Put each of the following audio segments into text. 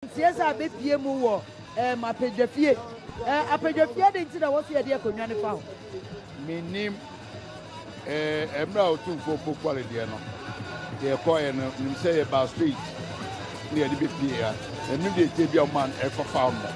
Ntiaseɛ a bɛpie mu wɔ ɛɛm apadwafie ɛɛ apadwafie adi nti na wɔsi ɛdeɛ konwa ne fa ho. Menim ɛɛ ɛmmerɛ a otumfoɔ pokuale deɛ no yɛ kɔɛ no nim sɛ yɛ baa street ne yɛde bɛpie ya ɛno deɛ tie bia ɔman ɛfa fa mmɔ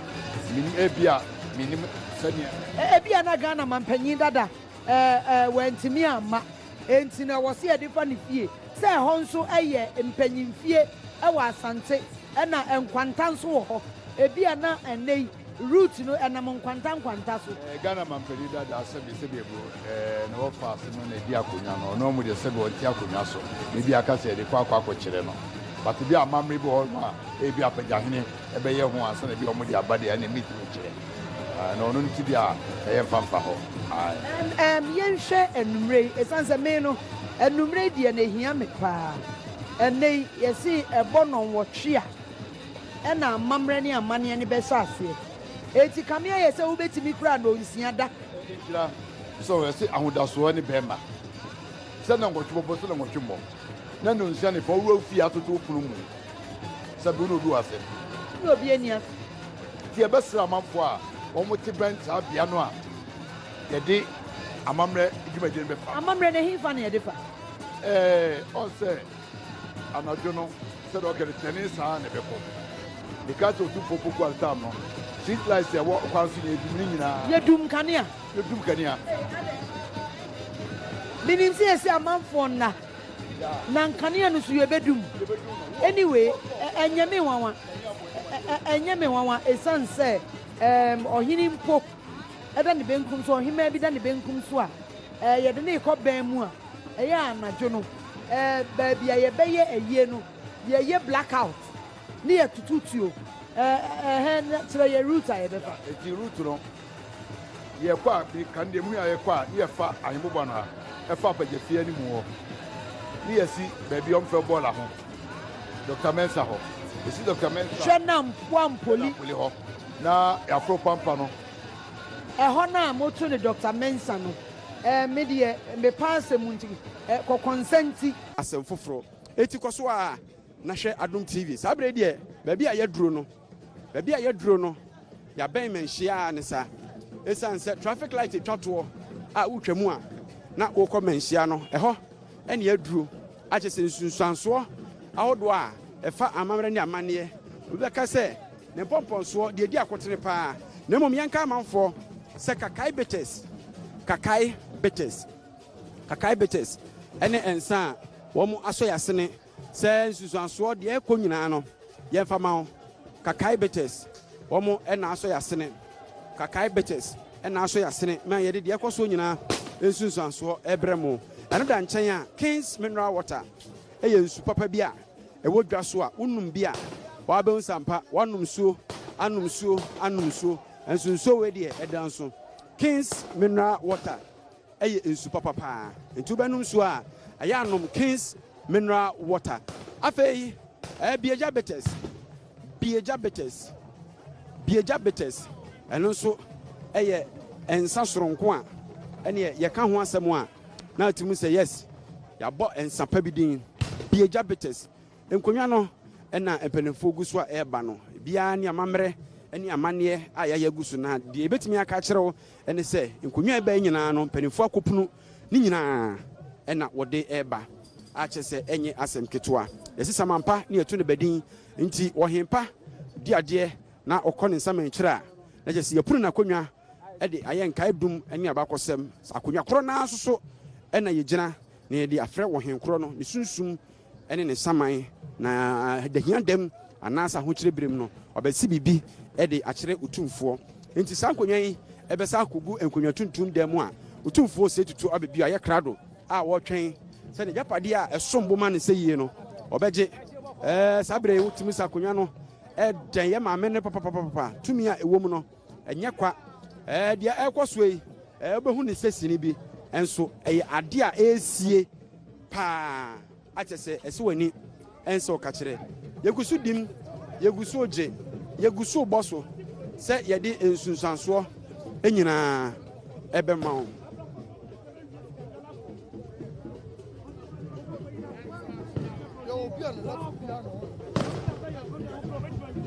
menim ɛbia menim sɛdeɛ. Ɛbia na Ghana mampanyin dada Ɛɛ, wantumi amma. Enti na ɛwɔ sɛ yɛde fa ne fie, sɛ ɛhɔ nso yɛ mpanyimfie wɔ Asante, ɛnna nkwanta nso wɔ hɔ. Ebia na ɛnnɛyi Rut no nam nkwanta nkwanta so. Ɛɛ, Ghana mampanyin dada, sɛbe, sɛbe ɛbo, ɛɛ, na wɔfa ase no na edi akonnwa no. Ɔno amu deɛ sɛbe ɔnte akonnwa so, na ebia aka sɛ yɛde kɔ akɔ akɔkyerɛ no. But ebia amammerɛ bi wɔ hɔ nom a, ebia Apagyahene. ɛbɛyɛ ho ansa na ebia wɔde aba deɛ ɛna mɛtumi kyerɛ na ɔno nti deɛ a ɛyɛ mfa mfa hɔ ae. Yɛnhwɛ anwummerɛ yi ɛsiane sɛ me no anwummerɛ yi deɛ na ɛhia me paa ɛnɛ yi yɛse ɛbɔ nnɔnwɔtwe a ɛna amammerɛ ne amanneɛ no bɛhyɛ aseɛ enti kame ayɛ sɛ wobɛtumi koraa nnɔnsia da nhyira sɛ ɛse ahodasoɔ ne bɛrima sɛ nnɔnwɔtwe bɔbɔ sɛ nnɔnwɔtwe mmɔ na nnɔnsia ne fa wowura fie atoto pono mu Sɛ bere no obi wɔ asɛm bi. Na obi ani ase. Nti yɛbɛsrɛ amanfoɔ a wɔte bɛn saa bea no a yɛde amammerɛ dwumadie no bɛfa. Amammerɛ no, ɛhefa na yɛde fa? Ɛɛ, ɔn sɛ anadwo no, sɛdeɛ ɔka no, twɛne saa ara na ɛbɛkɔ. Mekaa sɛ Otumfoɔ Poku Altam no, street lights a ɛwɔ kwan so na yɛdum ne nyinaa. Yɛdum nkanea. Yɛdum nkanea. Menim sɛ yɛse amanfoɔ nna. Na nkanea no so yɛbɛdum. Anyway ɛnyɛ me nwanwa ɛnyɛ me nwanwa ɛsiane sɛ ɛɛm ɔhene mpo ɛda ne benkum so ɔhemaa bi da ne benkum so a ɛɛ yɛde ne rekɔ bɛn mu a ɛyɛ anadwo no ɛɛ baabi a yɛbɛyɛ ayie no yɛyɛ black out ne yɛtututuo ɛɛ ɛhɛn kyerɛ yɛ route a yɛbɛfa. Nti route no. Yɛkɔ a, me kan deɛ me nua yɛkɔ a, ne yɛ fa ahemmoba no a ɛfa apagya fie anim hɔ, ne yɛ si baabi a wɔn fɛ bɔɔla ho, Doctor Mensah hɔ. Yɛ si Doctor Mensah. Hwɛ na mpoa mpoli. Mpoli hɔ, na yɛ aforo pampa no. Ɛhɔ no a mo to no Doctor Mensah no, ɛɛ, me deɛ, me paa asɛm mu nti, ɛɛ, kɔ Kɔnsɛnti. Asɛm foforɔ, eti kɔ so aa na hwɛ Adom TV. Saa berɛ yi deɛ, baabi a yɛ duro no. Baabi a yɛaduro no, yɛabɛn Manhyia a ne sa. Ɛsiane sɛ traffic light twa toɔ a wotwa mu a na wokɔ Manhyia no, ɛhɔ ne yɛaduro. Akyɛ sɛ nsunsuansoɔ ahodoɔ a ɛfa amammerɛ ne amanneɛ, obi bɛka sɛ ne mpɔmpɔnsoɔ deɛ ɛdi akotene pa ara. Na mmom yɛnka amanfoɔ sɛ Kakai Bitters, Kakai Bitters, Kakai Bitters ne nsa a wɔasɔ yɛasene. Sɛ nsusuansoɔ, deɛ ɛkɔ nyinaa no yɛmfa ma wo, Kakai Bitches, wɔn na asɔ yɛasene, Kakai Bitches na asɔ yɛasene ma yɛde deɛ ɛkɔ soɔ nyinaa nsunsuansoɔ rebrɛ mo. Ɛno da nkyɛn a, King's Mineral Water yɛ nsu papa bi a ɛwɔ dwa so a wonom bi a wabɛhu sɛ ampa woanom nsuo, anom nsuo, anom nsuo, nanso nsuo wei deɛ ɛda nso. King's Mineral Water. Ɛyɛ nsu papa paa nti wobɛnom nsuo a ɛyɛ a nom King's mineral water. Afei ɛyɛ biagya bitters, biagya bitters, biagya bitters ɛno nso ɛyɛ nsa soronko a ɛneɛ yɛka ho asɛm a na atumi sɛ yes yɛabɔ nsa pa bi din biagya bitters. Nkonnwa no ɛna mpanimfoɔ gu so a ɛreba no biara ne amammerɛ ɛne amanneɛ a yɛayɛ agu so na deɛ yɛbɛtumi aka akyerɛ wo Ɛne sɛ, nkonnwa a ɛba yi nyinaa no, mpanimfoɔ akɔpunu ne nyinaa na wɔde reba, a kyerɛ sɛ, ɛnyɛ asɛm ketewa. Yɛse saman pa na yɛto ne ba din, nti ɔhen pa di adeɛ na ɔkɔ ne nsaman kyire a, na kyerɛ sɛ, yɛapunu n'akonnwa de ayɛ nkae dum ne abakɔsɛm. Akonnwa korɔ no ara nso so na yɛgyina na yɛde afrɛ ɔhen korɔ no ne sunsum. ne ne saman, na ahiadam anaasɛ ahokyerɛ berem no, ɔbɛse biribi de akyerɛ Otumfoɔ. Enti saa nkonnwa yi bɛsa akogu nkonnwa tuntum dan mu a Otumfoɔ sɛe tutu aba bio ayɛ krado a ɔretwɛn sɛ n'agyapadeɛ a ɛsom bo ma no sɛ yie no ɔbɛgye. Ɛɛ, saa berɛ yi wotumi sɛ akonnwa no dɛn yɛ ma amene papapapapa tumi a ɛwɔ mu no. Ɛnyɛ kwa. Ɛɛ, deɛ ɛrekɔ soɔ yi, ɛɛ, wobɛhu ne sɛ sini bi, nso ɛyɛ adeɛ a ɛresie paa. Akyɛ sɛ ɛsɛ w'ani ɛnsɛ ɔka kyerɛ. Yɛgu so dim, yɛgu so gye, yɛgu so bɔ so sɛ yɛde nsunsuansoɔ nyinaa ɛbɛma wo.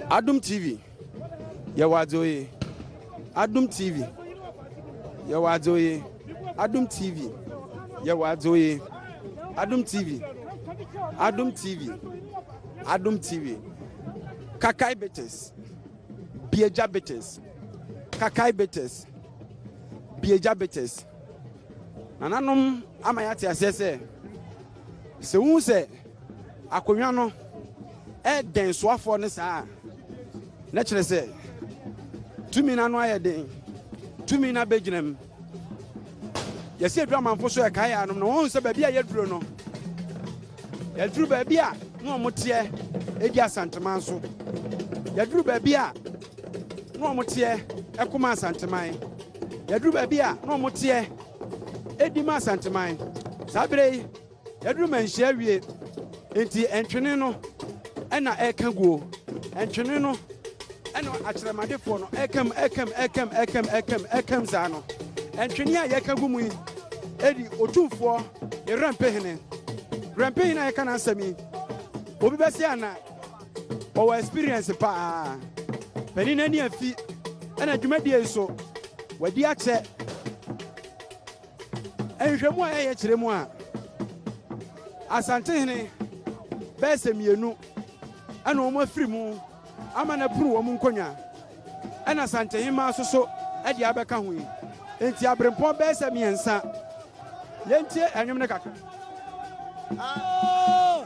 Adum TV. Yɛwɔ adze oye. Adom TV. Yɛwɔ adze oye. Adom TV. Yɛwɔ adze oye. Adom TV. Adom TV. Adom TV. Kakai Betes. Bieja Betes. Kakai Betes. Bieja Betes. Nananom ama yɛate aseɛ sɛ Sɛ wuhu sɛ akonnwa no dɛn soafoɔ no saa a, na kyerɛ sɛ tumi no ano ayɛ den, tumi no abɛgyina mu. Yɛsi aduru amanfo so ɛkae anom no, wɔn sɛ baabi a yɛduro no, yɛduru baabi a na wɔn teɛ ɛdi asanteman so, yɛduru baabi a na wɔn teɛ ɛkoma asanteman. Yɛaduru baabi a na wɔn teɛ di ma Asanteman. Saa bere yi, yɛaduru Manhyia awie, enti ntwene no na ɛreka guo. Ntwene no na akyerɛmadefoɔ no ɛrekam, ɛrekam, ɛrekam, ɛrekam, ɛrekam, ɛrekam saa no. Ntwene a yɛka gu mu yi di Otumfoɔ ne Werɛmpehene. Werɛmpehene a yɛka n'asɛm yi, obi bɛsɛ anaa? Wɔwɔ experience paa. Panin no ani afi ɛna dwumadie yi so. Wadi akyɛ. Nhwehwɛmu a yɛyɛ kyerɛ mu a Asantehene bɛyɛ sɛ mmienu ɛna wɔn afiri mu ama no apuru wɔn nkonnwa ɛna Asantehema nso so ɛde abɛka ho yi. Nti aberempɔn bɛyɛ sɛ mmiɛnsa. Yɛntie ɛnwom no kakra. Ah.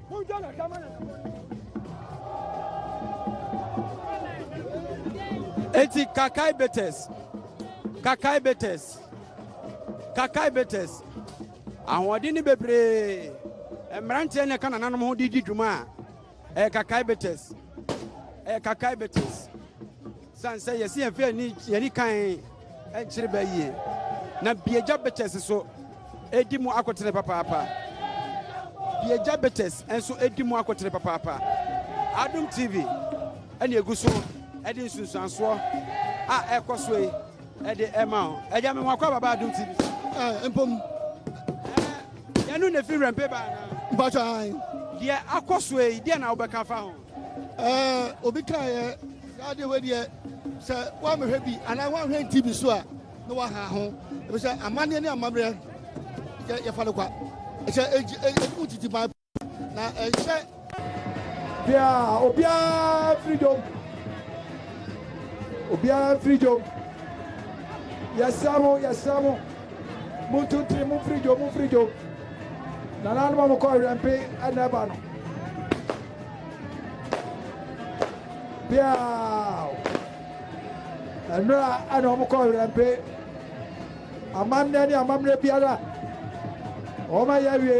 eti kakai betes kakai betes kakai betes ahoɔden ne bebree mmeranteɛ ne ɛka nananom ho de di dwuma a ɛyɛ kakai betes ɛyɛ kakai betes Esiane sɛ yɛasi yɛn fɛ ne yɛn ani kan nkyere bɛ yie na Biagya Bitters so edi mu akotene papaapa. Biagya Bitters nso edi mu akotene papaapa. Adom TV ɛna egu so ɛde nsunsuansoɔ a ɛkɔ so yi ɛde ɛma o. Ɛgya mi wɔn akɔ ababa Adom TV. Ɛɛ eh, mpom. Ɛɛ yɛn no na efi wɛmpe baa na. Mpatwa. Deɛ akɔ so yi deɛ na wobɛka fa ho. Eh, obi kaa yɛ saa deɛ wei deɛ sɛ woamehwɛ bi anaa woanhwɛ nti bi so a na waha ho ɛbi sɛ amanneɛ ne amammerɛ yɛ yɛfa no kwa ɛsɛ ɛgye ɛdi mu titi ban na ɛhyɛ. bia obiara firi dwom obiara firi dwom yɛsrɛ mo yɛsrɛ mo montonti mo firi dwom mo firi dwom nananom a mokɔ werɛmpe ɛna ɛba no biaa ɛnora ɛna wɔn kɔ werɛmpe amammerɛ ne amammerɛ biara wɔn ayɛ awie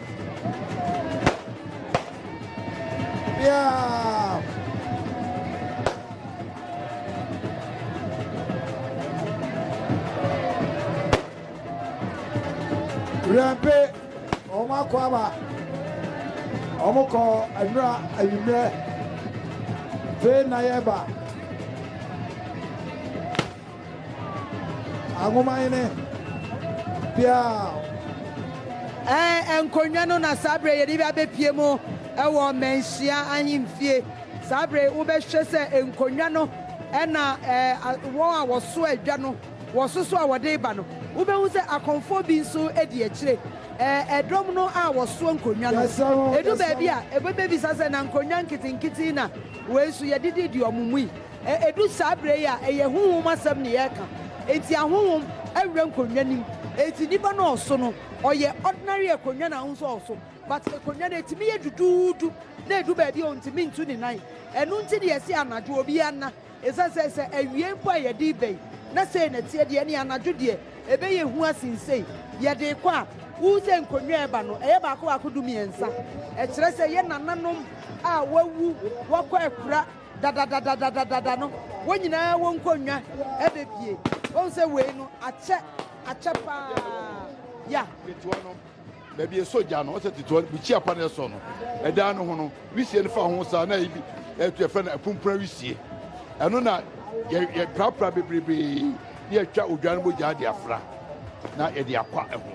Rempe, wɔn akɔ aba, wɔn kɔ nnura anwummerɛ, fei na yɛba. Anwomanhene Biao. Ɛɛ, nkonnwa no na saa bere yɛde abepue mu wɔ Manhyia Ahemfie. Saa bere wobɛhwɛ sɛ nkonnwa no na wɔn a wɔso adwa no wɔ so so a wɔde reba no. Wobɛhu sɛ akɔmfoɔ bi nso di akyire. Ɛɛ, dɔm no a wɔsoa nkonnwa no, ɛdu baabi a, ɛbɛbisa sɛ, Na nkonnwa nketenkete yi na wei nso yɛde didi wɔn mu yi? Ɛdu saa berɛ yi a, ɛyɛ honhom asɛm na yɛreka, enti ahonhom awura nkonnwa no mu. Enti nipa no ɔso no, ɔyɛ ordinary akonnwa na wohu sɛ ɔso, but akonnwa no ɛtumi yɛ duduudu na ɛdu baabi a ɔntumi ntu ne nan. Ɛno nti na yɛse anadwo obiara nna, ɛsiane sɛ sɛ awia mpo a yɛde reba yi na sei na ɛteɛ deɛ ɛneɛ anadwo deɛ ɛbɛyɛ hu asen sei. Yɛde rekɔ a, wohu sɛ nkonnwa a ɛba no, ɛyɛ baako baako du mmiɛnsa, ɛkyerɛ sɛ ɛyɛ nananom a wɔawu, wɔakɔ akura. dadadadadadada no, wɔn nyinaa wɔ nkonnwa ɛbɛ bie. Wɔn sɛ wei no akyɛ akyɛ paa ya. Ketewa no baabi esɔ gya no ɔsɛ ketewa no bukyi apa na ɛsɔ no ɛdan no ho no wisie no fa ho saa na ebi ɛtu ɛfɛ na ɛpumpura wisie ɛno na yɛ yɛ prapra bebrebe na yɛtwa odwa no bɔ gya de afra na yɛde akwa ɛho.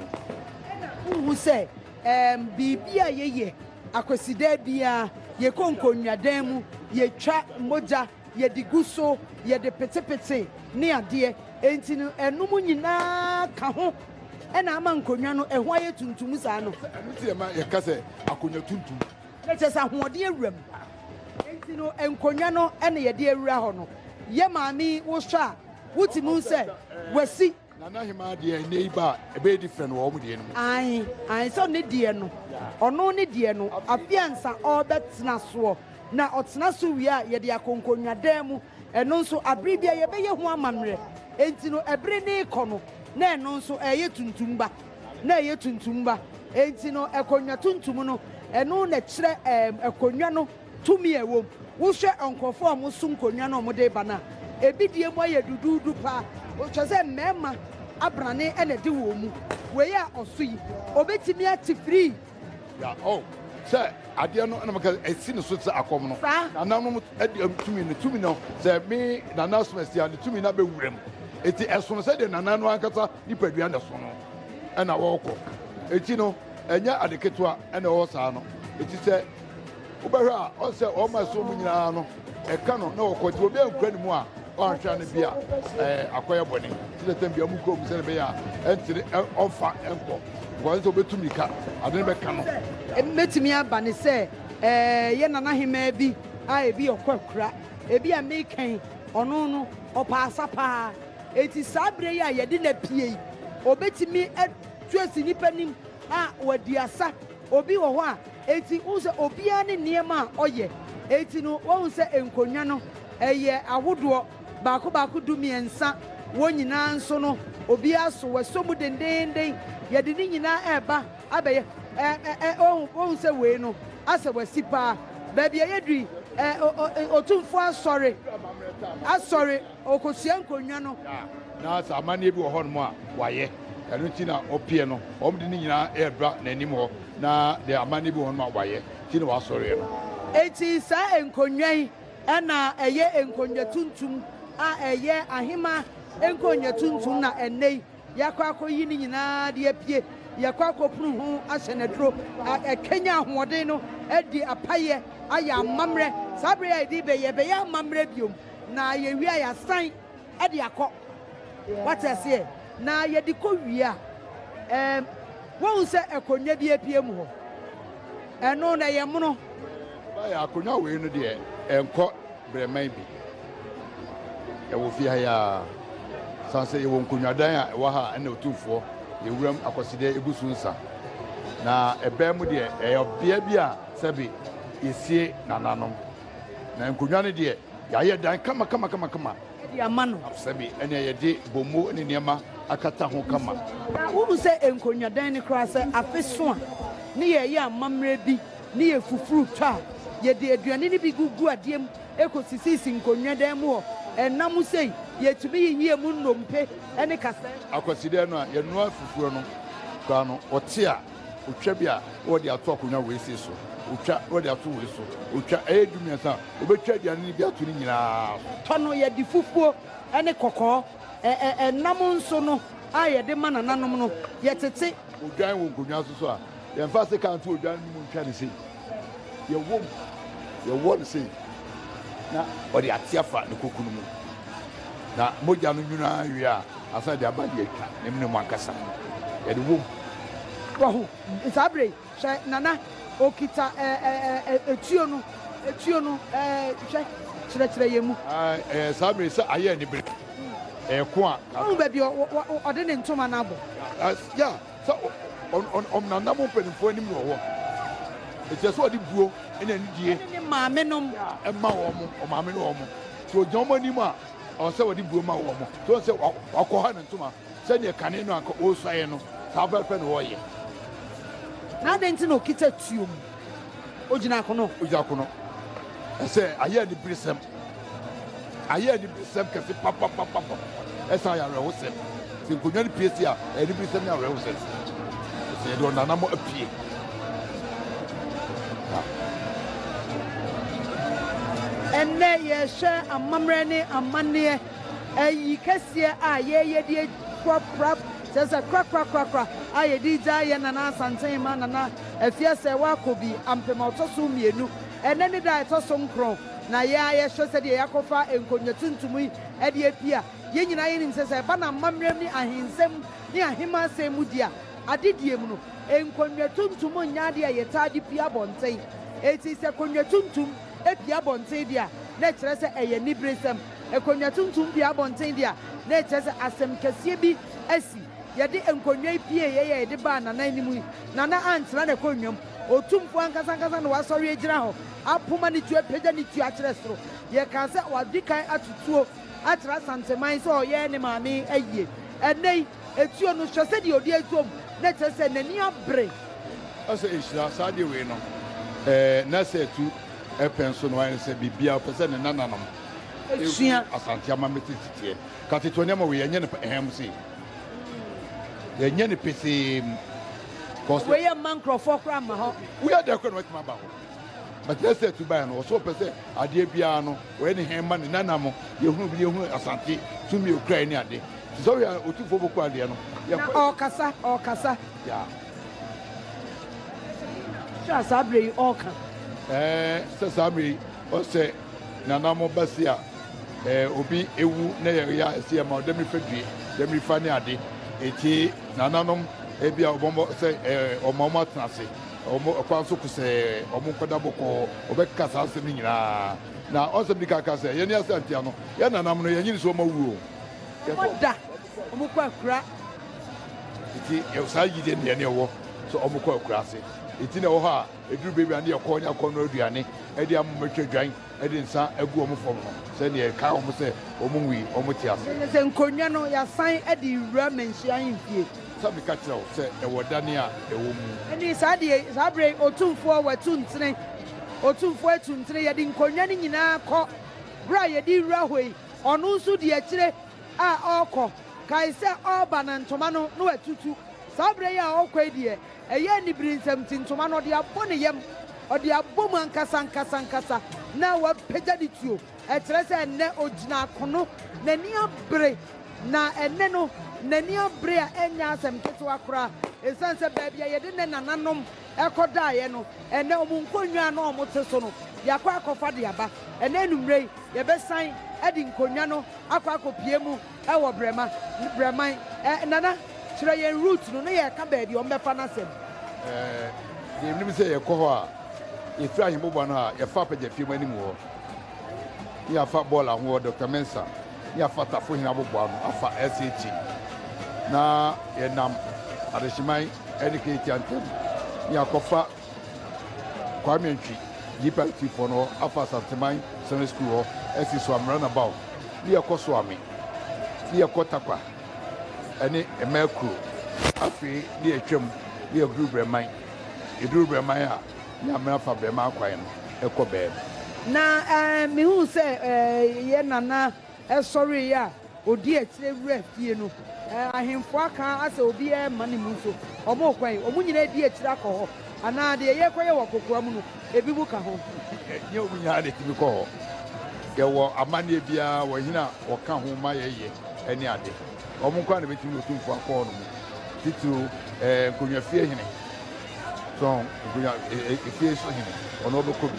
Wohu sɛ ɛɛm biribi a yɛyɛ Akwasida biara, yɛkɔ nkonnwadan mu, yɛtwa mogya, yɛde gu so, yɛde petepete ne adeɛ. Enti no, ɛnom nyinaa ka ho na ama nkonnwa no, ɛho ayɛ tuntum saa no. Ɛno nti na ɛma yɛka sɛ akonnwa tuntum. Na kyerɛ sɛ ahoɔden awura mu. Enti no, nkonnwa no na yɛde awura hɔ no. Yɛ maame yi, wohwɛ a, wotumi hu sɛ wasi. Na n'aheman deɛ ɛnnɛ yi ba a, ɛbɛyɛ different wɔ wɔn deɛ no mu. Ae, ae, sɛ ne deɛ no, ɔno ne deɛ no, afe ansa ɔrebɛtena soɔ, na ɔtena so wie a, yɛde akɔ nkonnwadan mu, ɛno nso abere bi a yɛbɛyɛ ho amannerɛ. Enti no, ɛbere no rekɔ no, na ɛno nso ɛreyɛ tuntum ba, na ɛreyɛ tuntum ba. Enti no, akonnwa tuntum no, ɛno na ɛkyerɛ ɛɛm, akonnwa no. Tumi a ɛwom. Wohwɛ nkurɔfo a wɔso nkonnwa na wɔde reba no a, ebi deɛ mu ayɛ duduudu paa, kyerɛ sɛ mmarima abrane na ɛde wɔn mu. Wei a ɔso yi, obetumi ate firii? Ya, oh, sɛ adeɛ no, ɛna meka sɛ ɛsi ne so te sɛ akɔm no. Saa. Nananom de tumi no, tumi no, sɛ me nana asom asi a, ne tumi no abɛ wuram. Eti ɛsono sɛdeɛ nana no ankasa nipadua na ɛso no, ɛna ɔrekɔ. Eti no, ɛnyɛ ade ketewa ɛna ɛwɔ saa no. Eti sɛ. Wobɛhwɛ a, ɔn sɛ wɔn ma ɛso mu nyinaa no, ɛka no na wɔkɔ. Nti obi ankura ne mu a, ɔanhwɛ a na bi a ɛɛ akɔyɛ bɔne. Nti na tɛm bia mu kura mu sɛdeɛ ɛbɛyɛ a ɛntene ɛ ɔmfa nkɔ. Because ɔn sɛ obetu mirika, ade no bɛka no. Ɛbɛtumi aba ne sɛ ɛɛ yɛ nana hemaa bi a ebi ɔkɔ akura. Ebi a meka yi, ɔno no ɔpɛ asa paa. Nti saa berɛ yi a yɛde no apue yi, obetumi atu asi nnipa anim a wadi asa. Obi wɔ hɔ a, enti wohu sɛ obiara ne nneɛma a ɔyɛ. Enti no, woahu sɛ nkonnwa no, ɛyɛ ahodoɔ baako baako dumiɛnsa. Wɔn nyinaa nso no, obiara so, wɔasɔ mu dendeenden. Yɛde ne nyinaa reba abɛyɛ ɛ, ɛ, ɛ, woahu, woahu sɛ wei no, asɛ wɔasi paa. Baabi a yɛadu yi, ɛ, ɛ, ɛ, Otumfoɔ asɔre, asɔre. Ɔrekɔsua nkonnwa no. Da. Na sɛ amanneɛ bi wɔ hɔnom a, wayɛ. Ɛno nti na ɔpeɛ no. Wɔde ne nyinaa redura n'anim hɔ, na deɛ amanneɛ bi wɔ hɔnom a wayɛ nti na wasɔreɛ no. Enti saa nkonnwa yi na ɛyɛ nkonnwa tuntum a ɛyɛ ahemmaa nkonnwa tuntum na ɛnnɛ yi yɛakɔ akɔyi ne nyinaa de apue, yɛkɔ akɔpunu ho ahyɛ no aduro, akanya ahoɔden no, adi apayeɛ, ayɛ amammerɛ. Saa berɛ yi a yɛde rebɛyɛ, ɛbɛyɛ amammerɛ biom. Na yɛwie a yɛasan de akɔ. Wate aseɛ? Na yɛde kɔ wie a, ɛɛm, woahu sɛ akonnwa bi apue mu hɔ. Ɛno no, ɛyɛ mono. Ɛbaeɛ a, akonnwa wei no deɛ, ɛnkɔ berɛman bi. Ɛwɔ fie ha yi ara. Sane sɛ yɛwɔ nkonnwadan a ɛwɔ ha a ɛna Otumfoɔ Yɛwuram Akwasidɛ gu so nsa. Na ɛbɛn mu deɛ, ɛyɛ ɔbea bi a sɛbe yɛsie nananom. Na nkonnwa no deɛ, yɛayɛ dan kama kama kama kama. De ama no. Sɛbi ɛnea yɛde bommo ne nneɛma akata ho kama. Na wohu sɛ nkonnwadan no koraa, sɛ afe so a, ne yɛreyɛ amammerɛ bi ne yɛ fufuru tɔ a, yɛde aduane no bi gugu adeɛ mu kɔsisisi nkonnwadan mu hɔ. Ɛnna mu sei, yɛtumi yiyi emu nnompe ne kasaɛm. Akwasideɛ no a yɛnoa fufuro no koraa no, ɔte a Otwa bi a na wɔde ato akonnwa wei sei so, otwa na wɔde ato wei so, otwa, ɛyɛ du mmiɛnsa a wɔbɛtwa aduane no bi ato ne nyinaa so. Tɔ no, yɛde fufuo ne kɔkɔɔ, ɛ-ɛ-ɛ nam nso no a yɛde ma nananom no, yɛtete. Odwan wɔ nkonnwa so so a, yɛmfa sekaa nto odwan no mu ntwa no sei, yɛwɔ mu, yɛwɔ no sei, na wɔde ate afa ne koko no mu, na mogya no nwunu ara wie a, Ansa na yɛde aba de atwa ne mene mu ankasa no, yɛde wom. Wɔ ho. Saa bere yi, hwɛ, Nana, okita ɛɛ, ɛɛ, tuo no, tuo no, ɛɛ, hwɛ, kyerɛkyerɛ yɛn mu. Ɛɛ, saa bere yi, sɛ ayɛ anibere, ɛɛ, ko a. Wahu baabi a ɔde ne ntoma no abɔ. Ya, sɛ ɔnanam mpanimfoɔ anim no wɔ hɔ. Enti ɛsɛ sɛ ɔde buo ne anidie. Ɛne ne maamenom. Ɛma wɔn, wɔn maame ne wɔn. Sɛ ɔgyina wɔn anim a. ɔwɔ sɛ wɔde buo ma wɔn mo so sɛ wakɔha ne ntoma sɛdeɛ kane no anka ɔresuaeɛ no saa pɛpɛpɛ na ɔreyɛ. Na adɛn nti na ɔkita tuo mu ɔgyina akono? Ɔgyina akono ɛsɛ ayɛ aniberesɛm ayɛ aniberesɛm kɛse papapapapa ɛsɛ ayɛ awerɛhosɛm. Sɛ nkonnwa no pue si a, ɛyɛ aniberesɛm ne awerɛhosɛm sɛ yɛde ɔnanamɔ apue. Ɛnnɛ yɛrehwɛ amammerɛ ne amanneɛ, ayi kɛseɛ a yɛreyɛ de akura kyerɛ sɛ korakorakorakora a yɛde regya yɛn Nana Asantehene ma Nana Afiasɛ Wakobi Ampem a ɔtɔ so mmienu. Ɛnnɛ ne da a ɛtɔ so nkron na yɛn ara yɛhwɛ sɛdeɛ yɛakɔfa nkonnwa tuntum yi de apue a. Yɛn nyinaa yɛnim sɛ sɛ ɛba no amammerɛm ne ahensɛm ne ahemman asɛm mu di a, adedie mu no, nkonnwa tuntum nyɛ adeɛ a yɛtaa de pue abɔnten. Enti sɛ konnwa tuntum pue abɔnten deɛ a, na ɛkyerɛ sɛ ɛyɛ aniberesɛm. Konnwa tuntum pue abɔnten deɛ a, na ɛkyerɛ sɛ asɛm kɛseɛ bi asi. Yɛde nkonnwa yi pieeɛ yi a yɛde baa Nana anim yi, Nana antena n'akonnwa mu. Otumfoɔ ankasa ankasa na wasɔre agyina hɔ, apoma ne tuo, apagya ne tuo akyerɛ soro. Yɛkaa sɛ wadi kan ato tuo. atra Asanteman sɛ ɔyɛ ne maame ayie. Ɛnnɛ yi, etuo no, hwɛ sɛdeɛ ɔdi atuom, na kyerɛ sɛ n'ani abere. Ɛsɛ nhyira, saa adeɛ wei no. Ɛɛ, na sɛ ɛtu pɛn so no, ayɛ no sɛ biribiara ɔpɛ sɛ ne nananom hu Asante amammerɛ tete teɛ. Ka tete nneɛma wei, yɛnyɛ no pɛ, ɛɛm sei. Yɛnyɛ no pesee mu. Cause. Wei yɛ mma nkurɔfoɔ koraa mma hɔ. Woyɛ dɛ koraa na watumi aba hɔ. But na sɛ ɛtu baeɛ no, ɔsɛ ɔpɛ sɛ adeɛ biara no. Wɔyɛ ne hɛmma, ne nana mo. Yɛhunu bere, yɛhunu asante, tumi a ɔkurae ne ade. Te sɛ ɔyɛ otumfoɔ bɔku adeɛ no. Yɛkɔ. Na ɔrekasa, ɔrekasa. Yeah. Sɛ a saa bere yi ɔreka. Ɛɛ, sɛ saa bere yi ɔsɛ nana mo ba si a, ɛɛ, obi ewu na yɛyɛ a ɛsɛ yɛma ɔdɛ mirifa due, dɛ mirifa ne ade. Eti nananom ebi a ɔbɔmmɔ sɛ ɛɛ, ɔma wɔn atena ase. Wɔn kwan so ko sɛ wɔn nkɔda bɔkɔɔ, wɔbɛkeka saa nsɛm no nyinaa. Na ɔnsɛm di kan ka sɛ, Yɛne Asa ntia no, yɛn nananom no, yɛnnye nni sɛ wɔma wu o. Wɔda wɔn kɔ akura. Enti saa gyidie no yɛn ne ɛwɔ sɛ wɔn kɔ akura ase. Enti na ɛwɔ hɔ a, ɛduru baabi a na yɛkɔ ne akɔnnɔ aduane de ama wɔn atwa dwan de nsa agu wɔn fam no sɛnea ɛkae wɔn sɛ wɔnwui, wɔte ase. Ɛne sɛ nkonnwa no, yɛasan de rewura mmanhyia ahemfie. Sɛ meka kyerɛ wo sɛ ɛwɔ dan a ɛwɔ mu. Ɛne saa deɛ yi, saa berɛ yi, Otumfoɔ, wɔatu ntene, Otumfoɔ atu ntene, yɛde nkonnwa no nyinaa kɔ, berɛ a yɛde rewura hɔ yi, ɔno nso di akyire a ɔrekɔ. Kae sɛ ɔreba no, ntoma no, na watutu. Saa berɛ yi a ɔrekɔ yi deɛ, Ɛyɛ anibere nsɛm nti, ntoma no ɔde abɔ ne yam, ɔde abɔ mu ankasa ankasa ankasa, na wapagya ne tuo. Ɛkyerɛ sɛ ɛnnɛ ogyina akono, n'ani abere, na ɛnnɛ no, n'ani abere a ɛnyɛ asɛm ketewa koraa, esiane sɛ baabi a yɛde ne nananom kɔdaeɛ no, ɛnnɛ wɔn nkonnwa a na wɔte so no, yɛakɔ akɔfa de aba. Ɛnnɛ anwummere yi, yɛbɛsan de nkonnwa no akɔ akɔpue mu Ɛwɔ Brɛma, Brɛman. Ɛɛ, Nana, kyerɛ yɛn route no na yɛreka baabi a wɔbɛfa no asɛm. Ɛɛ, deɛ menim sɛ yɛkɔ hɔ a, yɛfiri Ahemmoboa no a, yɛfa Apɛgyafie mu anim hɔ, na yɛafa Bɔɔla ho hɔ, Doctor Mensah, na yɛafa Tafohene aboboa ano afa SH, na yɛnam Adehyeman ne Keretia ntam, na yɛakɔfa. Kwame Antwi Gyipa Atifoɔ no hɔ afa Asanteman Sene Sukuu hɔ asi so amena na baw ne yɛkɔ Soame ne yɛkɔ Takwa ne Mmaa Kuro. Afei ne yɛtwam ne yɛduru Brɛman. Yɛduru Brɛman a ne amena fa Brɛman kwan no kɔ Bɛɛm. Na mehuu sɛ yɛn Nana Ɛsɔree a ɔdii akyire wura fie no, ahemfo aka asɛ obiara remma ne mu nso wɔn kwan, wɔn nyinaa adi akyire akɔ hɔ, anaa deɛ yɛrekɔyɛ wɔ kokoa mu no, ebinom ka ho. Ɛnyɛ wɔn nyinaa na ɛtumi kɔ hɔ. Yɛwɔ amanneɛ biara wɔ hene a wɔka ho ma yɛyɛ ne ade. Wɔn nko ara na ɛbɛtumi ne Otumfoɔ akɔ hɔnom, titiriw nkonnwafie hene So nkonya efie so hene ɔno ɔbɛkɔ bi?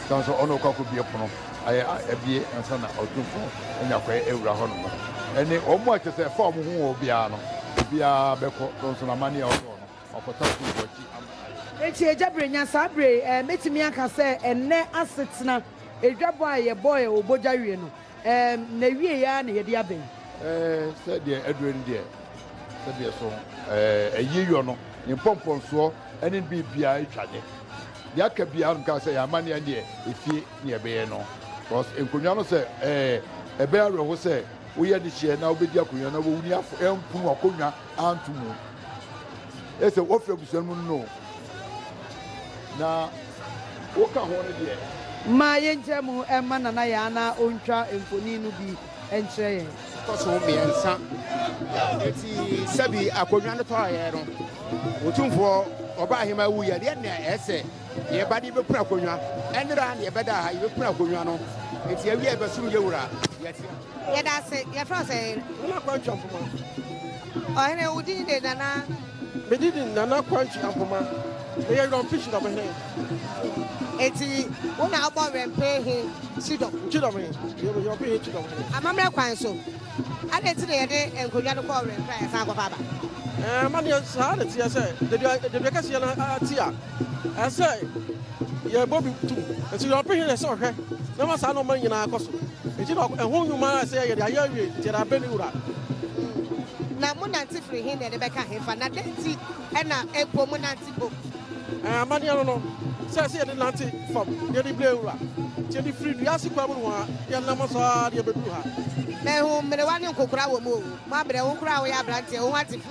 San so ɔno ɔkɔ akɔbie pono ayɛ a abie ansa na ɔtumfo anya kwan awura hɔ nom. Ɛne wɔn a kyɛ sɛ ɛfa wɔn ho wɔ biara no, obiara bɛkɔ so nso n'amanneɛ a ɔtɔɔ no, wakɔsa ɔtumfo akyi ama ayɛ. Enti Agya Brenya, saa bere yi, ɛɛ, mɛtumi aka sɛ ɛnnɛ asetena adwabɔ a yɛbɔɔ wɔ bogya wie no, Erm, n'awiei ara na yɛde aba yi. Erm, sɛ deɛ aduro no deɛ, sɛ deɛ so erm ayie yɔ no, ne mpɔmpɔnsoɔ ne ne biribiara atwa ne. Deɛ aka biara no mekaa sɛ yɛ amanneɛ ara deɛ efie na yɛbɛyɛ no. Cos nkonnwa no sɛ erm ɛbɛyɛ awerɛho sɛ woyɛ dehyeɛ na wobɛdi akonnwa na w'ani afɔ ɛnku no akonnwa anto mu. Ɛsɛ wɔfiri abusua no mu no na. Wo ka ho no deɛ. Mma yɛnkyerɛ mu mma Nana Yaa na ɔntwa mfonin no bi nkyerɛ yɛn. Kɔ so mmiɛnsa. Enti sɛbi akonnwa no tɔeɛ no, Otumfoɔ Ɔbaahemaa wuiɛ no, yɛn na ɛyɛ sɛ yɛba de bɛpunu akonnwa. Ɛnna ara na yɛbɛda ha, yɛbɛpunu akonnwa no. Enti awie a yɛbɛsom yɛn wura. Yɛte ase. Yɛda ase. Yɛfrɛ wo sɛn? Nana Kwantwa Mfoma. Ɔhene, wo din de Nana. Me didin Nana Kwantwi Ampoma, me yɛ Werɛmpe Kyidɔm he. Enti wo na wobɔ Werɛmpe he kyidɔm? Nkyidɔm he, yɛ Werɛmpe he kyidɔm he. Amammerɛ kwan so, adɛn nti na yɛde nkonnwa no kɔɔ Werɛmpe a yɛsan kɔfa aba? Ɛɛ, amanneɛ saa na ɛteɛ sɛ dadua dadua kɛseɛ no ate a, ɛsɛ sɛ yɛbɔ bi tom. Enti Werɛmpe he na ɛsɛ ɔhwɛ na ama saa nnoɔma no nyinaa akɔ so. Enti na ɛho nnwuma ara sɛ yɛde ayɛ awie, nti yɛde abrɛ ne wura. Hmm. Na monante firi he na ɛde bɛka hefa, na dɛn nti na mpo monante mpo? Eh, amanneɛ no no, sɛ sɛ yɛde nante fam na yɛde brɛ wura, nti yɛde firi dua ase kwan mu no a, yɛnam so ara de yɛbɛduru ha. Mahu mmerewa ne nkokora wɔ mu o. Moabrɛ wo koraa a woyɛ aberanteɛ, wo ho ate fi.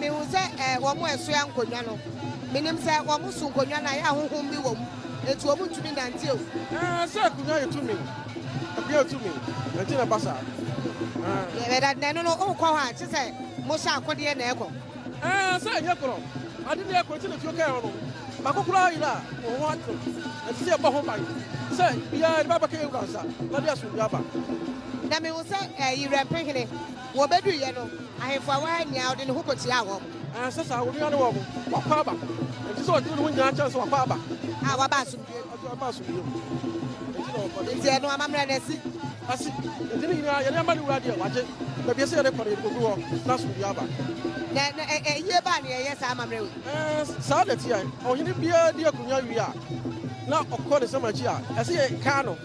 Mihu sɛ eh, wɔn a ɛsoa nkonnwa no. Minim sɛ wɔn so nkonnwa no ayɛ a honhom bi wɔ mu, enti wɔn ntumi nante o. Eh, sɛ akonnwa yɛ tumi, akonnwa yɛ tumi, enti na ɛba saa. Eh. Yɛ na ɛno no, wokɔ hɔ a, kye sɛ mohyɛ akodeɛ na ɛkɔ. Eh, sɛ ɛnyɛ korɔ, ade na ɛkɔ, enti na fie kɛɛ hɔ no, baako koraa yera a, wɔn ho atew. Ɛsɛ sɛ yɛbɔ ho ban sɛ biara de bɛbɛka yɛn wura nsa na de asomdwoe aba. Na mihu sɛ eh, Yerɛmpehene. Wɔbeduiɛ no, ahemfo a wɔaha nyinaa, ɔde ne ho kɔtiaa wɔn. Ɛnsɛ saa, onua ne wɔn, wakɔ aba. Enti sɛ ɔdwene ne ho nyinaa kyerɛ sɛ wakɔ aba. A, waba asomdwoeɛ mu. Enti ɔba asomdwoeɛ mu. Enti na ɔkɔ. Enti ɛno amammerɛ no asi. Asi. Enti ne nyinaa, yɛde ama ne Wura deɛ wagye. Baabi a ɛsɛ yɛde kɔ no, yɛde kɔgu hɔ, na asomdwoeɛ aba. Na, na ɛ, ayie ba a na yɛyɛ saa amammerɛ wei. Ɛɛ, saa na ɛteɛ. Ɔhene biara di akonnwa wie a, na ɔkɔ ne nsɛm akyi a, ɛsɛ yɛkae no.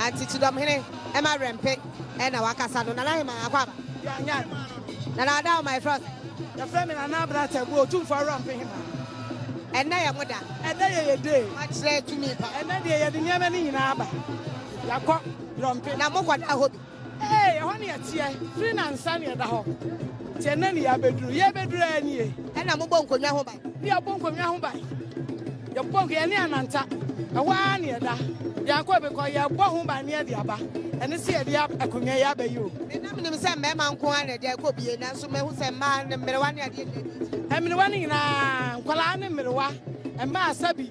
Aunty Tudom hene ɛma werɛ mpe ɛna wakasa no Nana Heman akɔ aba. Yɛn yan. Nana Ada Omah yɛfrɛ wo sɛ? Yɛfrɛ me Nana Abena Attabu Otumfoɔ Awurampe Heman. Ɛnɛ yɛ mo da. Ɛnɛ yɛ yɛ day. Wakyerɛ tumi pa. Ɛnɛ deɛ yɛde nneɛma no nyinaa aba. Yɛakɔ Wurɔmpe. Na mokɔda hɔ bi? Ee, ɛhɔ na yɛteɛ firi nnansa na yɛda hɔ, nti ɛnnɛ na yɛabɛduru. Yɛrebɛduru ara nie. Ɛnna mobɔ nkonnwa ho ban. Ne yɛbɔ nkonnwa ho ban. Yɛbɔ nko, yɛne Ananta, ɛhɔ ara na yɛda. Yɛankɔ baabi kɔ, yɛrebɔ ho ban na yɛde aba. Ɛne sɛ yɛde akonnwa yi aba yi o. Me na menim sɛ mmarima nko ara na ɛde ɛkɔ bie, nanso mahu sɛ mmaa, mmerewa ne adeɛ nyinaa de ɛkɔ. Mmerewa no nyinaa, nkwadaa ne mmerewa, mmaa, sɛbi.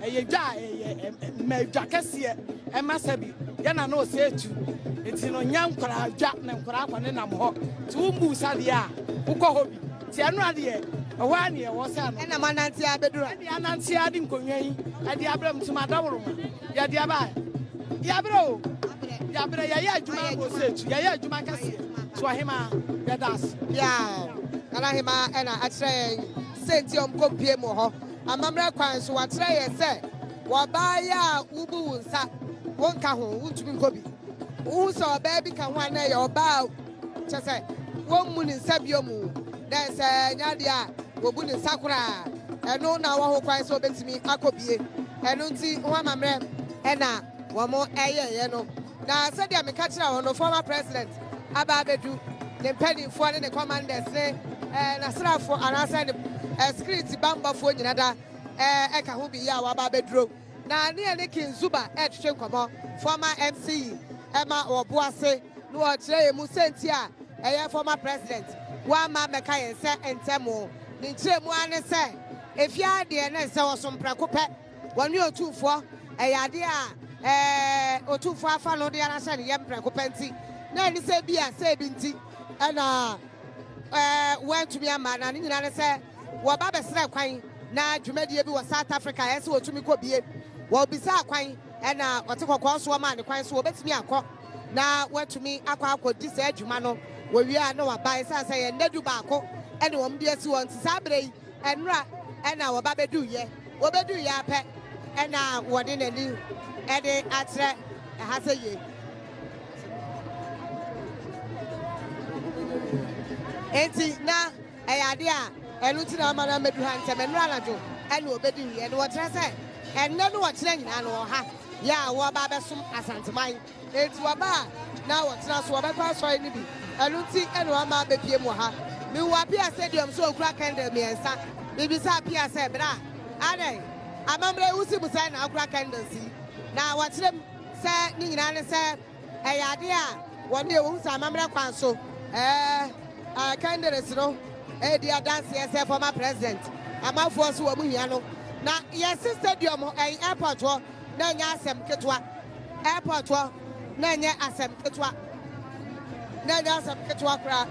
Ɛyɛ dwa a ɛyɛ ɛma dwa kɛseɛ ɛma sɛbi yɛ na na ɔsɛ etu nti no nyɛ nkwaraa dwa na nkwaraa kɔ ne nam hɔ ti wo mbu sa deɛ a wokɔ hɔ bi ti ɛno adeɛ ɛhɔ a neɛ ɛwɔ sɛ ɛno ɛna mo anante abɛdura ɛde anante adi nkonnwa yi ɛde abrɛ mu tuma daworo ma yɛde aba yɛabrɛ o yɛabrɛ yɛyɛ adwuma abɔ sɛ etu yɛyɛ adwuma kɛseɛ to ahema yɛda ase. Yaaw, Nana Hema ɛna akyerɛ yɛn sɛ nti ɔmkɔ mpie mu wɔ hɔ. Amammerɛ kwan so, wɔakyerɛ yɛn sɛ wɔ ɔbaa yi a wubu wo nsa wonka ho, wuntumi nkɔ bi. Wuhu sɛ ɔbaa bi ka ho a, na ɛyɛ ɔbaa a kyerɛ sɛ wommu ne nsa bio mu, na sɛ ɛnyɛ adeɛ a wobu ne nsa koraa. Ɛno na ɔwɔ hokwan sɛ obetumi akɔ bie. Ɛno nti, ho amammerɛ na. wɔyɛeɛ no, na sɛdeɛ meka kyerɛɛ wɔn no, former president aba abɛdu, ne mpanimfoɔ ne ne commanders ne ɛɛ n'asraafoɔ anaasɛ ne ɛɛ security bambɔfoɔ nyina da ɛɛ ɛka ho bi yɛ a wɔaba abɛduro, na ne yɛ ne King Zuba ɛretwetwe nkɔmmɔ, former MC yi ɛma wɔbo ase na wɔkyerɛ yɛn mu sɛnti a ɛyɛ former president wamma mmɛka yɛn sɛ ntɛmoo. Ne nkyerɛmu ara ne sɛ, ɛfie ara deɛ na ɛsɛ sɛ wɔsom prɛko pɛ. Wɔne Otumfoɔ, ɛyɛ adeɛ a Otumfoɔ afa no de ara hyɛ ne yam prɛko pɛ nti, na ɛne sɛ bi a sɛ ebi nti na wɔantumi amma, na ne nyinaa ne sɛ wɔba bɛsrɛɛ kwan na dwumadie bi wɔ South Africa a ɛyɛ sɛ wɔtumi kɔ bie. Wɔbisaa kwan na Ɔte Kɔkɔɔ nso wɔmaa no kwan so wɔbɛtumi akɔ na wɔatumi akɔ akɔdi saa dwuma no. Wɔwie a na wɔaba, ɛsiane sɛ ɛyɛ nnadu baako na wɔde asi hɔ nti saa berɛ yi, Nnora na wɔba bɛduiɛ. Wɔbɛduiɛ ara pɛ na wɔde n'ani de akyerɛ ɛha sɛ yei. Enti na ɛyɛ adeɛ a ɛno nti na wɔma no amɛdu ha ntɛm. Nnora anadwo na wɔbɛduiɛ. Na wɔkyerɛ sɛ ɛnnɛ ne ɔkyena nyinaa no wɔwɔ ha yɛ a wɔreba abɛsom Asanteman. Enti wɔba a, na wɔtena so, wɔbɛkɔ asɔre no bi. Ɛno nti na wɔama abepue mu wɔ ha. Mihuu Appiah Stadium so a okura kɛndil mmiɛnsa. Mibisaa Appiah sɛ, Bra, adɛn? Amammerɛ yi wusi mu sɛn na wokura kɛndils yi? Na wɔkyerɛɛ mu sɛ ne nyinaa ne sɛ ɛyɛ ade a wɔde yɛ. Wohu sɛ amammerɛ kwan so kɛndils no redi adanseɛ sɛ former president, amanfoɔ nso wɔn hia no. Na yɛse stadium hɔ, ɛyɛ airport hɔ. na ɛnyɛ asɛm ketewa. Airport hɔ na ɛnyɛ asɛm ketewa. Na ɛnyɛ asɛm ketewa koraa.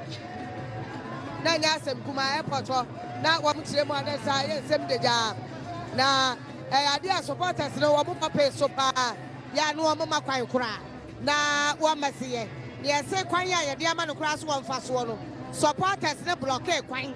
Na ɛnyɛ asɛm kumaa airport hɔ. Na wɔn kyerɛ mu a na ɛsɛ ayɛ nsɛm dagyaa. Na ɛyɛ adeɛ a supporters no wɔn bɔ pee so paa. Yɛ a na wɔn ma kwan koraa. Na wɔn ma si yɛ. Nea ɛse kwan a yɛde ama no koraa so wɔ mfasoɔ no, supporters no blɔkee kwan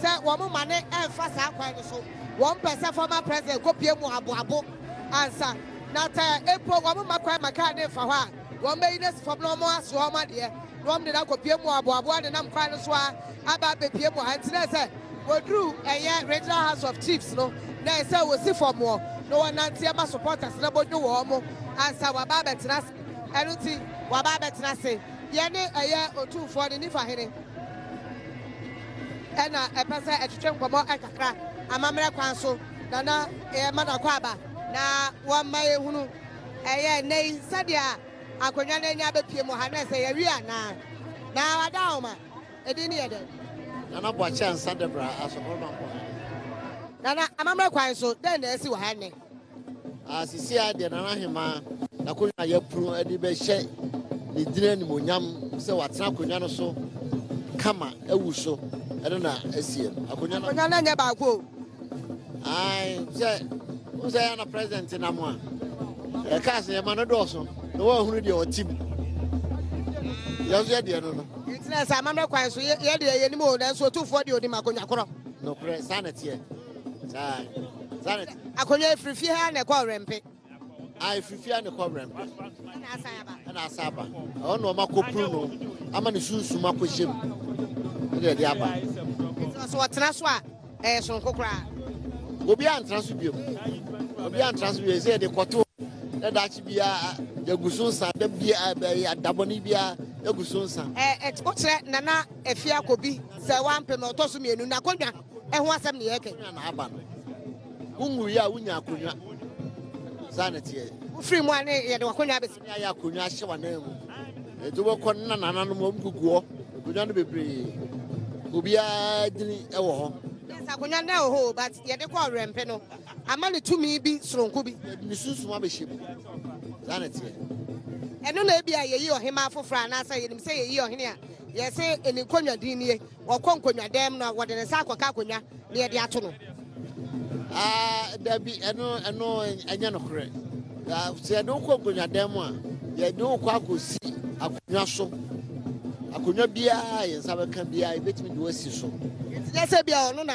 sɛ wɔn ma no ɛmfa saa kwan no so. Wɔn pɛ sɛ former president kɔ pue mu aboabo. ansa na sɛ mpo wɔma kwan ma kar no mfa hɔ a, wɔbɛyi no asi fam na wɔasoa wɔn adeɛ na wɔde no akɔpue mu aboaboa nenam kwan no so ara aba abɛpue mu ha. Enti na ɛsɛ sɛ wɔduru ɛyɛ Regional House of Chiefs no na ɛsɛ sɛ wɔsi fam hɔ na wɔnante ɛma supporters no bɛdwo wɔn ansa wɔaba abɛtena ase. Ɛno nti wɔaba abɛtena ase. Yɛne ɛyɛ Otumfoɔ no Nifa Hene na ɛpɛ sɛ ɛtwetwe nkɔmmɔ kakra amammerɛ kwan so. Na na yɛma no akwaaba na wɔmma yɛhunu ɛyɛ nnɛ yi sɛdeɛ akonnwa no ani abɛpue mu ha nɛ sɛ yɛwie anaa. Na wada ahoma, ɛdin no yɛ dɛn? Nana Boakye Ansah Deborah Asokoro Mampong. Nana, amammerɛ kwan so, dɛn na asi wɔ ha nnɛ? Sisi a deɛ Nana Ahemaa n'akonnwa a yɛapunu de bɛhyɛ ne din animuonyam sɛ watena akonnwa no so kama awu so ɛno na asie no. Akonnwa no nyɛ baako o. ae sɛ wo sɛ yɛ na president nam a ɛkaa sɛ yɛma no dɔɔso na woahunu deɛ ɔte mu yɛn so yɛdeɛ no no ntina sɛ amammerɛ kwan so yɛdeɛ yɛnim o nanso ɔtumfoɔ deɛ ɔnim akonnwa korɔ nokorɛ saa na teɛ saa saa na teɛ akonnwa ɛfiri fie ha na ɛkɔ ɔwerɛmpe a ɛfifia ne kɔwerɛ mpɛ ɛna asa aba ɛhɔ na ɔma kɔpuru no ama ne sunsum akɔhyɛ mu ɛde ɛde aba sɛ ɔtena so a ɛyɛ soronko koraa obi antena so biom obi antena so biom sɛ yɛde kɔto na daakye biara yɛgu so nsa da biara bɛyɛ dabɔne biara yɛgu so nsa wokyerɛ nana afie akɔbi sɛ wampem ɔtɔ so mmienu na kɔdwa ɛho asɛm ne yɛkɛ na aba no Wonwuiɛ a wonya akonnwa. Saa na teɛ. Wofiri mu a ne yɛde wakonnwa abɛsi. Ne ayɛ akonnwa ahyɛ w'anan mu. Ɛti wobɛkɔ ne nanananom wɔn gugu hɔ. Akonnwa no bebree. Obiara dini wɔ hɔ. Yes, akonnwa no wɔ hɔ o, but yɛde kɔ ɔwerɛmpe no ama ne tumi bi soronko bi. Yɛde ne sunsum abɛhyɛ mu. Saa na teɛ. Ɛno na ebi a yɛyi ɔhemmaa foforɔ anaasɛ yɛnim sɛ yɛyi ɔhene a yɛse ne nkonnwa din nie. Ɔkɔ nkonnwadan mu na ɔde ne nsa akɔka akonnwa na yɛde ato no. Ah, dabi, ɛno, ɛno ɛnyɛ nokorɛ. Ah, sɛ yɛde wo kɔ nkonnwadan mu a, yɛde wo kɔ akɔsi akonnwa so. Akonnwa biara a yɛn nsa bɛka biara, yɛbɛtumi de wo asi so. Nti nyɛ sɛ bia ɔno na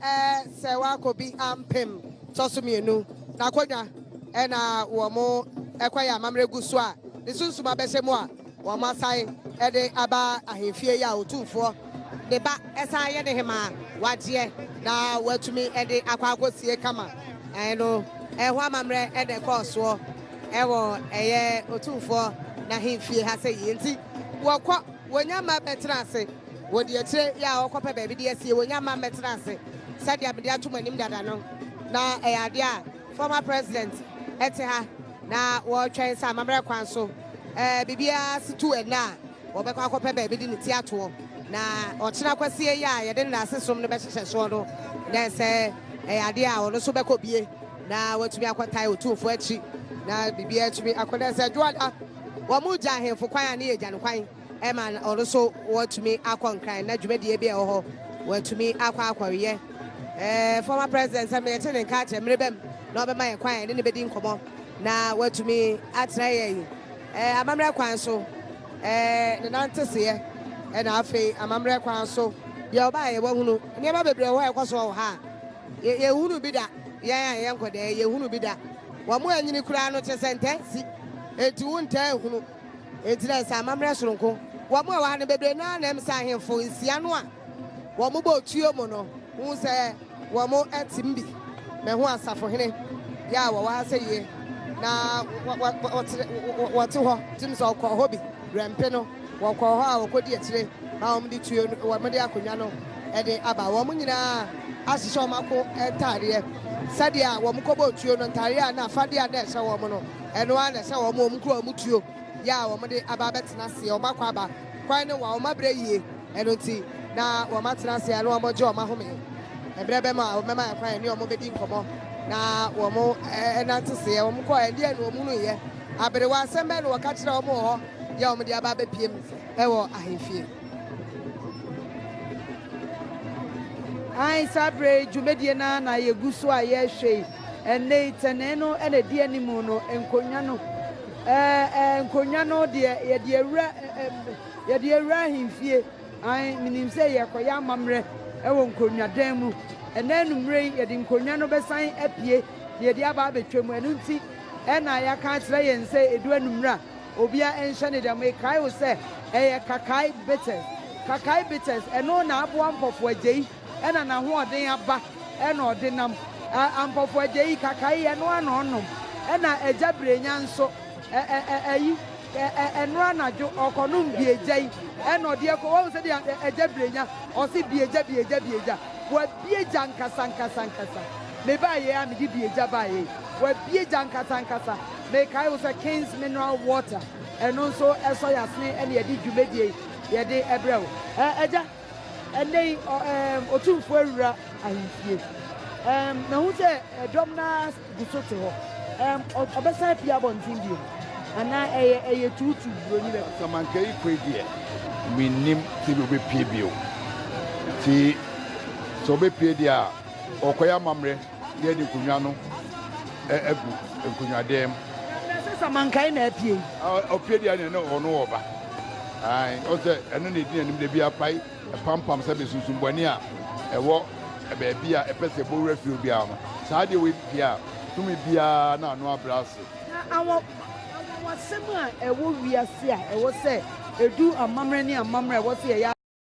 Ɛɛ sɛ wakɔ bi ampem tɔ so mmienu n'akonwa ɛna wɔn ɛkwa yɛ amammerɛ gu so a ne sunsum abɛhyɛ mu a wɔn asan ɛde aba ahemfie yi a otumfoɔ ne ba ɛsan yɛ ne hemaa wagyeɛ na watumi ɛde akɔ akɔsie kama ɛno ɛho amammerɛ ɛna ɛkɔɔ soɔ ɛwɔ ɛyɛ otumfoɔ n'ahemfie ha sɛ yie nti wɔkɔ Wɔnya mma mmɛtena ase wɔ deɛ akyire yi a ɔrekɔpɛ baabi de asie. Wɔnya mma mmɛtena ase sɛdeɛ mede ato mo anim dada no, na ɛyɛ adeɛ a former president te ha na wɔretwɛn sɛ amammerɛ kwan so biribiara si tu ɛnnɛ a wɔbɛkɔ akɔpɛ baabi de ne ti atoɔ na ɔkyena kwasie yi a yɛde ne n'ase som no bɛhyehyɛ soɔ no na ɛsɛ ɛyɛ adeɛ a ɔno nso bɛkɔ bie na watumi akɔtae otumfoɔ akyi na biribiara atumi akɔ na ɛsɛ dwoada Wɔregya ahemfo kwan a ne yɛ gya no kwan ma ɔno nso watumi akɔ nkran na dwumadie bi a ɛwɔ hɔ watumi akɔ akɔyɛ. Eh, former president sɛ meyɛte ne nka akyerɛ mmere bɛm na ɔbɛma yɛ kwan ne ne bɛdi nkɔmmɔ na watumi atena yɛ yi eh, amammerɛ kwan so eh, ne nanteseɛ ɛna eh, afei amammerɛ kwan so deɛ ɔbaa yɛ wahunu nneɛma bebree wɔ hɔ ɛkɔ so wɔ ha yɛhunu bi da yɛn a yɛnkɔdɛɛ yɛhunu bi da Wɔn a nyini koraa no te sɛ ntaa nsi, enti wo ntaa nhunu. Enti na ɛsɛ amammerɛ soronko. Wɔn a wɔha no bebree no ara na ɛm sɛ ahemfo nsia no a wɔbɔ otuo mu no hu sɛ wɔatim bi. Mahu asafohene bi a wɔwɔ ha sɛ yie, na wɔte hɔ. Tim sɛ ɔkɔɔ hɔ bi, werɛ mpe no. Wɔkɔɔ hɔ a wɔkɔdi akyire ma wɔde tuo no, wɔde akonnwa no de aba. Wɔn nyinaa ahyehyɛ wɔn ako ntadeɛ sɛdeɛ a wɔkɔbɔɔ tuo no ntadeɛ a na afadeɛ a na ɛhyɛ wɔn no, ɛno ara na ɛhyɛ wɔn. Wɔn kura wɔn tuo yɛ a wɔde aba abɛtena aseɛ. Wɔakɔ aba, kwan no wa, wɔabrɛ yie, ɛno nti na wɔatena aseɛ na wɔregye wɔn ahome. Ɛberɛ bɛm a wɔbɛma yɛn kwan yɛne wɔn bɛdi nkɔmmɔ na wɔnanteseɛ. Wɔkɔeɛ, ɛdeɛn na wɔhunuiɛ? Aberewa, asɛm bɛn na wɔka kyerɛɛ wɔn wɔ hɔ? deɛ a wɔde aba abɛpiem wɔ ahemfie. Ae, saa berɛ yi dwumadie no ara na yɛgu so a yɛrehwɛ yi. Ɛnnɛ yi, tɛnee no na ɛdi anim no, nkonnwa no, nkonnwa no deɛ yɛde awura yɛde awura ahemfie. Ae, menim sɛ yɛrekɔyɛ amammerɛ wɔ nkonnwadan mu. Ɛnnɛ anwummerɛ yi, yɛde nkonnwa no bɛsan apue na yɛde aba abɛtwam. Ɛno nti na yɛaka akyerɛ yɛn sɛ ɛdu anwummerɛ a, Obia nhyɛ ne dɛm mekae wo sɛ ɛyɛ Kakai Bitters Kakai Bitters ɛno na aboa Mpɔfo Agyei ɛna nahoɔden aba ɛna ɔde nam a Mpɔfo Agyei Kakai ɛnoa na ɔnom ɛna Agya Brenya nso ɛ ɛ ɛ ɛyi ɛ ɛ ɛnoa anadwo ɔkɔnom biegya yi ɛna ɔde ɛkɔ wahu sɛdeɛ ɛ Agya Brenya ɔse biegya biegya biegya wabiegya ankasa ankasa ankasa mebaayɛ a mede biegya baayɛ yi wabiegya ankasa ankasa Mekae wo sɛ King's Mineral Water, ɛno nso ɛsɔ y'asene ɛna yɛde dwumadie yi yɛde ɛbrɛ wo. Ɛɛ Agya, ɛnnɛ yi ɔ ɛɛm Otumfoɔ awura ahemfie. Ɛɛm mahu sɛ ɛdɔm no ara gu so te hɔ. Ɛɛm ɔ ɔbɛsan apue abɔnten bio anaa ɛyɛ ɛyɛ tuutuu buroni bɛkɔ? Samankayi Kwei deɛ mennim sɛdeɛ ɔbɛpue bio. Nti sɛ ɔbɛpue deɛ a ɔrekɔyɛ amammerɛ. na yɛde nkonnwa no agu nkonnwadan mu. Ɛsɛ sɛ mankae na apue. Ɔpue deɛ ne ne ɔno ɔba. Ɔsɛ ɛno na ɛdi n'anim da bi apae ɛpampam sɛ mesunsum bɔne a ɛwɔ baabi a ɛpɛ sɛ ɛbɔ wura fie obiara no. Saa adeɛ wei pue a, tumi biara na ano abrɛ ase. Anwanwasɛm a ɛwɔ wiase a ɛwɔ sɛ ɛdu amammerɛ ne amammerɛ a ɛwɔ sɛ yɛyɛ.